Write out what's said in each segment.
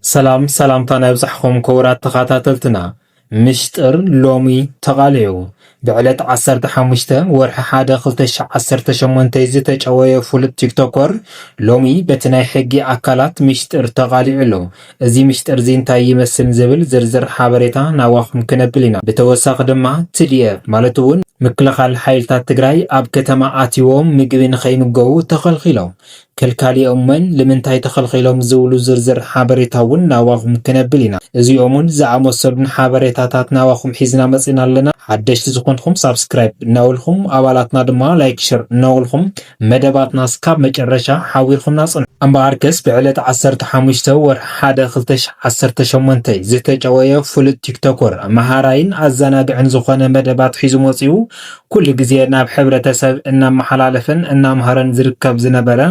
ሰላም ሰላምታና ይብዛሕኹም ክቡራት ተኸታተልትና። ምሽጥር ሎሚ ተቓሊዑ ብዕለት ዓሰርተ ሓሙሽተ ወርሒ ሓደ ክልተ ሽሕ ዓሰርተ ሸሞንተ ዝተጨወየ ፍሉጥ ቲክቶኮር ሎሚ በቲ ናይ ሕጊ ኣካላት ሚሽጥር ተቓሊዑ ኣሎ። እዚ ሚሽጥር'ዚ እንታይ ይመስል ንዝብል ዝርዝር ሓበሬታ ናባኹም ክነብል ኢና። ብተወሳኺ ድማ ትዲኤፍ ማለት'ውን ምክልኻል ሓይልታት ትግራይ ኣብ ከተማ ኣትይዎም ምግቢ ንከይምገቡ ተኸልኺሎም። ከልካሊኦምን ልምንታይ ተኸልኺሎም ዝብሉ ዝርዝር ሓበሬታ ውን ናባኹም ክነብል ኢና። እዚኦምን ዝኣመሰሉን ሓበሬታታት ናባኹም ሒዝና መጺእና ኣለና። ሓደሽቲ ዝኾንኹም ሳብስክራይብ እናበልኹም ኣባላትና ድማ ላይክ ሸር እናበልኹም መደባትና ስካብ መጨረሻ ሓቢርኹምና ጽንሑ። እምበኣርከስ ብዕለት ዓሰርተ ሓሙሽተ ወርሒ ሓደ ክልተ ሽሕ ዓሰርተ ሸሞንተ ዝተጨወየ ፍሉጥ ቲክቶኮር መሃራይን ኣዘናግዕን ዝኾነ መደባት ሒዙ መጺኡ ኩሉ ግዜ ናብ ሕብረተሰብ እናመሓላለፈን እናምሃረን ዝርከብ ዝነበረ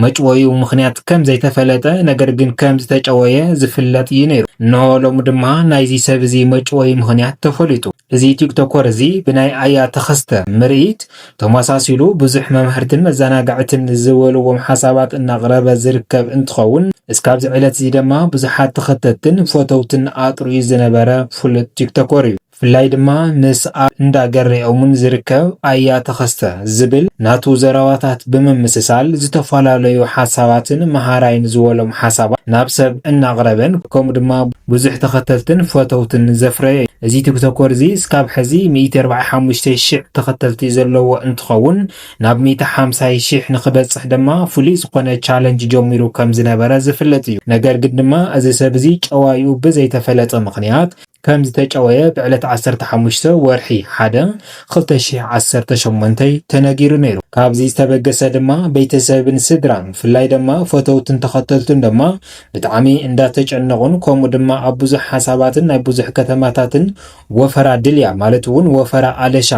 መጭወይኡ ምኽንያት ከም ዘይተፈለጠ ነገር ግን ከም ዝተጨወየ ዝፍለጥ እዩ ነይሩ። እነሆ ሎሚ ድማ ናይዚ ሰብ እዚ መጭወዪ ምኽንያት ተፈሊጡ። እዚ ቲክቶኮር እዚ ብናይ ኣያ ተኸስተ ምርኢት ተመሳሲሉ ብዙሕ መምሀርትን መዘናግዕትን ዝበልዎም ሓሳባት እናቕረበ ዝርከብ እንትኸውን እስካብዚ ዕለት እዚ ደማ ብዙሓት ተኸተትትን ፈተውትን ኣጥርዩ ዝነበረ ፍሉጥ ቲክቶኮር እዩ። ብፍላይ ድማ ምስ ኣብ እንዳ ገሬኦሙን ዝርከብ ኣያ ተኸስተ ዝብል ናቱ ዘረባታት ብምምስሳል ዝተፋላለዩ ሓሳባትን መሃራይን ዝወሎም ሓሳባት ናብ ሰብ እናቕረበን ከምኡ ድማ ብዙሕ ተኸተልትን ፈተውትን ዘፍረየ እዩ። እዚ ቲክቶኮር እዚ እስካብ ሕዚ ሚእቲ ኣርባዓይ ሓሙሽተ ሽሕ ተኸተልቲ ዘለዎ እንትኸውን ናብ ሚእቲ ሓምሳይ ሽሕ ንክበፅሕ ድማ ፍሉይ ዝኾነ ቻለንጅ ጀሚሩ ከምዝነበረ ዝፍለጥ እዩ። ነገር ግን ድማ እዚ ሰብ እዚ ጨዋይኡ ብዘይተፈለጠ ምኽንያት ከም ዝተጨወየ ብዕለት ዓሰርተ ሓሙሽተ ወርሒ ሓደ ክልተ ሽሕ ዓሰርተ ሸሞንተ ተነጊሩ ነይሩ። ካብዚ ዝተበገሰ ድማ ቤተሰብን ስድራን ብፍላይ ድማ ፈተውትን ተኸተልቱን ድማ ብጣዕሚ እንዳተጨነቑን ከምኡ ድማ ኣብ ብዙሕ ሓሳባትን ናይ ብዙሕ ከተማታትን ወፈራ ድልያ ማለት እውን ወፈራ ኣለሻ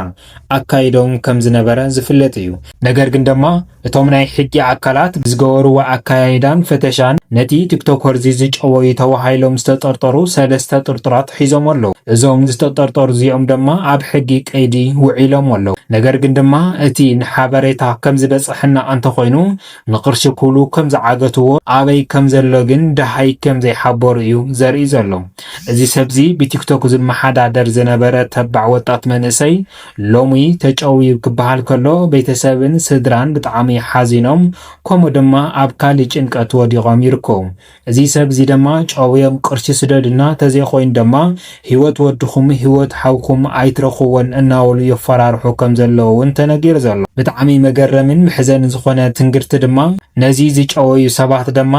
ኣካይዶም ከም ዝነበረ ዝፍለጥ እዩ። ነገር ግን ደማ እቶም ናይ ሕጊ ኣካላት ብዝገበርዎ ኣከያይዳን ፈተሻን ነቲ ቲክቶከርዚ ዝጨወዩ ተባሂሎም ዝተጠርጠሩ ሰለስተ ጥርጡራት ሒዞም ኣለዉ። እዞም ዝተጠርጠሩ እዚኦም ደማ ኣብ ሕጊ ቀይዲ ውዒሎም ኣለዉ። ነገር ግን ድማ እቲ ንሓበሬታ ከም ዝበፀሐና እንተኾይኑ ንቅርሺ ክብሉ ከም ዝዓገትዎ ኣበይ ከም ዘሎ ግን ደሃይ ከም ዘይሓበሩ እዩ ዘርኢ ዘሎ። እዚ ሰብዚ ብቲክቶክ ዝመሓዳደር ዝነበረ ተባዕ ወጣት መንእሰይ ሎሚ ተጨውዩ ክበሃል ከሎ ቤተሰብን ስድራን ብጣዕሚ ሓዚኖም ከምኡ ድማ ኣብ ካሊእ ጭንቀት ወዲቆም ይርከቡ። እዚ ሰብ እዚ ደማ ጨውዮም ቅርሺ ስደዱና ተዘይ ኮይኑ ደማ ሂወት ወድኹም ሂወት ሓውኩም ኣይትረኽብዎን እናበሉ የፋራርሑ ከም ዘለዉ ውን ተነጊሩ ዘሎ። ብጣዕሚ መገረምን መሕዘንን ዝኾነ ትንግርቲ ድማ ነዚ ዝጨወዩ ሰባት ደማ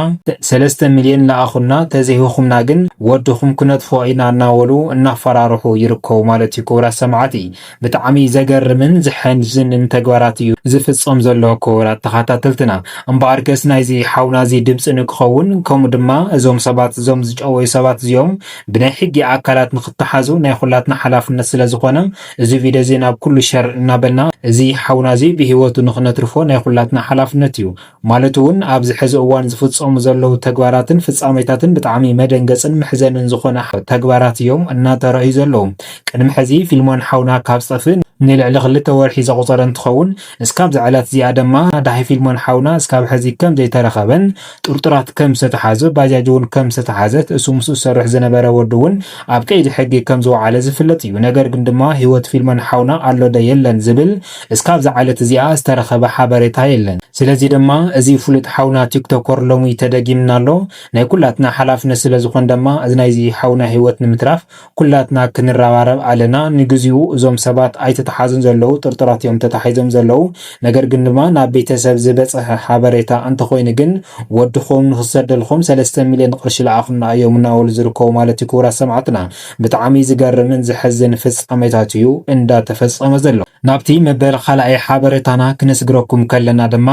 ሰለስተ ሚልዮን ለኣኹልና ተዘይህኹምና ግን ወድኹም ክነጥፍኦ ኢና እናበሉ እናፋራርሑ ይርከቡ ማለት ዩ ክቡራት ሰማዕቲ። ብጣዕሚ ዘገርምን ዘሐንዝንን ተግባራት እዩ ዝፍጸም ዘሎ ክቡራት ተኻታተልትና። እምበኣርከስ ናይዚ ሓውና እዚ ድምጺ ንክኸውን ከምኡ ድማ እዞም ሰባት እዞም ዝጨወዩ ሰባት እዚኦም ብናይ ሕጊ ኣካላት ንክተሓዙ ናይ ኩላትና ሓላፍነት ስለ ዝኾነ እዚ ቪድዮ እዚ ናብ ኩሉ ሸር እናበልና እዚ ሓውና እዚ ብህይወቱ ንክነትርፎ ናይ ኩላትና ሓላፍነት እዩ። ማለት እውን ኣብዚ ሕዚ እዋን ዝፍፀሙ ዘለዉ ተግባራትን ፍፃሜታትን ብጣዕሚ መደንገፅን መሕዘንን ዝኾነ ተግባራት እዮም እናተረኣዩ ዘለዉ። ቅድሚ ሕዚ ፊልሞን ሓውና ካብ ዝጠፍእ ንልዕሊ ክልተ ወርሒ ዘቑፀረ እንትኸውን እስካብዛ ዕለት እዚኣ ድማ ዳሓይ ፊልሞን ሓውና እስካብ ሕዚ ከም ዘይተረኸበን ጥርጡራት ከም ዝተትሓዙ ባጃጅ እውን ከም ዝተትሓዘት እሱ ምስኡ ዝሰርሕ ዝነበረ ወዱ እውን ኣብ ቀይዲ ሕጊ ከም ዝወዓለ ዝፍለጥ እዩ። ነገር ግን ድማ ሂወት ፊልሞን ሓውና ኣሎ ዶ የለን ዝብል እስካብ ዝዓለት እዚኣ ዝተረኸበ ሓበሬታ የለን ስለዚ ደማ እዚ ፉሉጥ ሓውና ቲክቶኮር ሎሚ ተደጊምና ኣሎ ናይ ኩላትና ሓላፍነት ስለ ዝኾን ደማ እዚ ናይዚ ሓውና ሂወት ንምትራፍ ኩላትና ክንራባረብ ኣለና ንግዚኡ እዞም ሰባት ኣይተታሓዙን ዘለዉ ጥርጡራት እዮም ተታሒዞም ዘለዉ ነገር ግን ድማ ናብ ቤተሰብ ዝበፀሐ ሓበሬታ እንተኾይኑ ግን ወድኹም ንኽሰደልኹም ሰለስተ ሚልዮን ቕርሺ ልኣኹልና እዮም እናበሉ ዝርከቡ ማለት እዩ ክቡራት ሰማዕትና ብጣዕሚ ዝገርምን ዘሕዝን ፍጻሜታት እዩ እንዳተፈጸመ ዘሎ። ናብቲ መበል ኻልኣይ ሓበሬታና ክነስግረኩም ከለና ድማ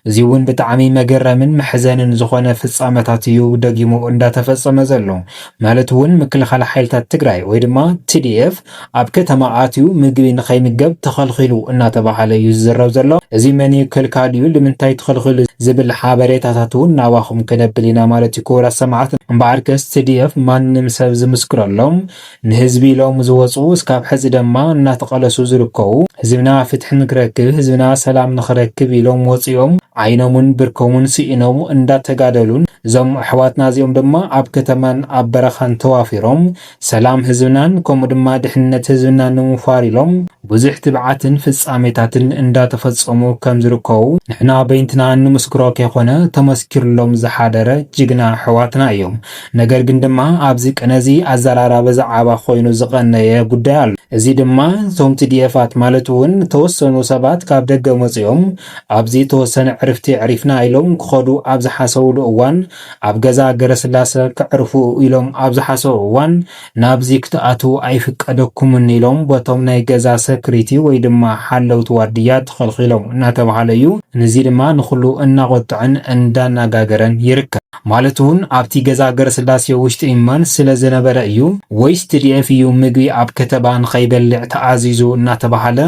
እዚውን ብጣዕሚ መገረምን መሕዘንን ዝኾነ ፍጻመታት እዩ ደጊሙ እንዳተፈጸመ ዘሎ። ማለት እውን ምክልኻል ሓይልታት ትግራይ ወይ ድማ tdf ኣብ ከተማ ኣትዩ ምግቢ ንኸይምገብ ተኸልኺሉ እናተባሃለ እዩ ዝዝረብ ዘሎ። እዚ መን እዩ ከልካሊኡ ልምንታይ ተኸልኺሉ ዝብል ሓበሬታታት እውን ናባኹም ከነብል ኢና ማለት እዩ። ክቡራት ሰማዕት እምበኣርከስ tdf ማንም ሰብ ዝምስክረሎም ንህዝቢ ኢሎም ዝወጹ እስካብ ሕዚ ደማ እናተቐለሱ ዝርከቡ ህዝብና ፍትሒ ንክረክብ ህዝብና ሰላም ንክረክብ ኢሎም ወጺኦም ዓይኖምን ብርኮምን ስኢኖም እንዳተጋደሉን እዞም ኣሕዋትና እዚኦም ድማ ኣብ ከተማን ኣብ በረኻን ተዋፊሮም ሰላም ህዝብናን ከምኡ ድማ ድሕንነት ህዝብናን ንምውፋር ኢሎም ብዙሕ ትብዓትን ፍጻሜታትን እንዳተፈጸሙ ከምዝርከቡ ንሕና በይንትና እንምስክሮ ከይኮነ ተመስኪርሎም ዝሓደረ ጅግና ኣሕዋትና እዮም። ነገር ግን ድማ ኣብዚ ቅነ እዚ ኣዘራራቢ ዝዓባ ኮይኑ ዝቐነየ ጉዳይ ኣሎ። እዚ ድማ እቶም ቲዲኤፋት ማለት እውን ተወሰኑ ሰባት ካብ ደገ መጺኦም ኣብዚ ተወሰነ ዕርፍቲ ኣዕሪፍና ኢሎም ክኸዱ ኣብ ዝሓሰብሉ እዋን ኣብ ገዛ ገረስላሰ ከዕርፉ ኢሎም ኣብ ዝሓሰቡ እዋን ናብዚ ክትኣትዉ ኣይፍቀደኩምን ኢሎም በቶም ናይ ገዛ ሰክሪቲ ወይ ድማ ሓለውቲ ዋርድያ ተኸልኺሎም እናተብሃለ እዩ። ንዚ ድማ ንኹሉ እናቖጠዐን እንዳናጋገረን ይርከብ። ማለት እውን ኣብቲ ገዛ ገረስላሴ ውሽጢ መን ስለ ዝነበረ እዩ ወይስ tdf እዩ ምግቢ ኣብ ከተባ ንኸይበልዕ ተኣዚዙ እናተብሃለ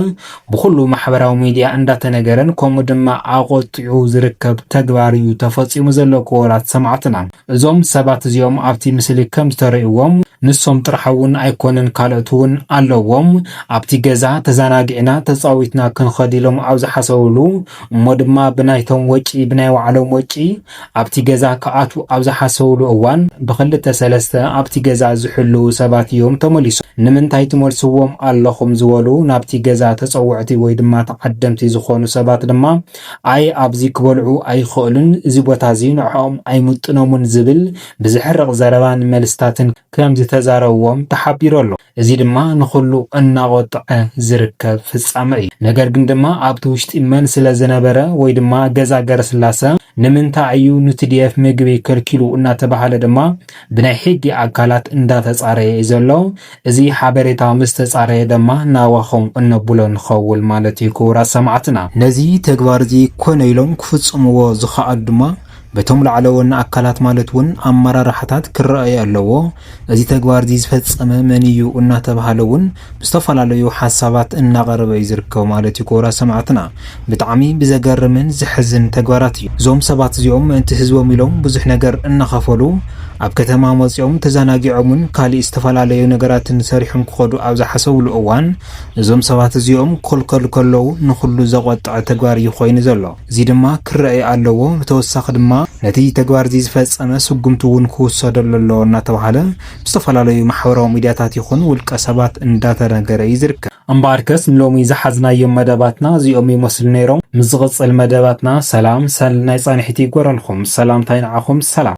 ብኹሉ ማሕበራዊ ሚድያ እንዳተነገረን ከምኡ ድማ ኣቖጢዑ ዝርከብ ተግባር እዩ ተፈፂሙ ዘሎ ክቡራት ሰማዕትና። እዞም ሰባት እዚኦም ኣብቲ ምስሊ ከም ዝተረእዎም ንሶም ጥራሕ እውን ኣይኮነን ካልኦት እውን ኣለዎም ኣብቲ ገዛ ተዛናጊዕና ተፃዊትና ክንኸድ ኢሎም ኣብ ዝሓሰብሉ እሞ ድማ ብናይቶም ወጪ ብናይ ባዕሎም ወጪ ኣብቲ ገዛ ክኣትዉ ኣብ ዝሓሰቡሉ እዋን ብኽልተ ሰለስተ ኣብቲ ገዛ ዝሕልዉ ሰባት እዮም ተመሊሶም። ንምንታይ ትመልስዎም ኣለኹም ዝበሉ ናብቲ ገዛ ተፀወዕቲ ወይ ድማ ተዓደምቲ ዝኾኑ ሰባት ድማ ኣይ ኣብዚ ክበልዑ ኣይኸእሉን እዚ ቦታ እዚ ንዕኦም ኣይምጥኖሙን ዝብል ብዘሕርቕ ዘረባን መልስታትን ከምዝተዛረብዎም ተሓቢሩ ኣሎ። እዚ ድማ ንኹሉ እናቖጠዐ ዝርከብ ፍጻመ እዩ። ነገር ግን ድማ ኣብቲ ውሽጢ መን ስለ ዝነበረ ወይ ድማ ገዛ ገረስላሰ ንምንታይ እዩ ንትዲኤፍ ምግቢ ከልኪሉ እናተባህለ ድማ ብናይ ሕጊ ኣካላት እንዳተጻረየ እዩ ዘሎ። እዚ ሓበሬታ ምስ ተጻረየ ደማ ናባኹም እነብሎ ንኸውን ማለት እዩ ክቡራት ሰማዕትና። ነዚ ተግባር እዚ ኮነ ኢሎም ክፍጽምዎ ዝኸኣሉ ድማ፣ በቶም ላዕለዎና ኣካላት ማለት ውን ኣመራርሓታት ክረኣይ ኣለዎ። እዚ ተግባርዚ ዝፈፀመ መን እዩ እናተብሃለ ውን ብዝተፈላለዩ ሓሳባት እናቐረበ እዩ ዝርከብ ማለት እዩ ክቡራት ሰማዕትና። ብጣዕሚ ብዘገርምን ዘሕዝን ተግባራት እዩ። እዞም ሰባት እዚኦም ምእንቲ ህዝቦም ኢሎም ብዙሕ ነገር እናኸፈሉ ኣብ ከተማ መፂኦም ተዘናጊዖምን ካሊእ ዝተፈላለዩ ነገራትን ሰሪሖም ክኸዱ ኣብ ዝሓሰብሉ እዋን እዞም ሰባት እዚኦም ክኽልከሉ ከለው ንኹሉ ዘቖጠዐ ተግባር እዩ ኮይኑ ዘሎ። እዚ ድማ ክረኣይ ኣለዎ፣ ብተወሳኺ ድማ ነቲ ተግባር'ዚ ዝፈጸመ ስጉምቲ'ውን ክውሰደሉ ኣለዎ እናተባህለ ብዝተፈላለዩ ማሕበራዊ ሚድያታት ይኹን ውልቀ ሰባት እንዳተነገረ እዩ ዝርከብ። እምበኣርከስ ንሎሚ ዝሓዝናዮም መደባትና እዚኦም ይመስሉ ነይሮም፣ ምስ ዝቕጽል መደባትና ሰላም ሰል ናይ ጻንሒት ይግበረልኩም፣ ሰላምታይ ንዓኹም ሰላም።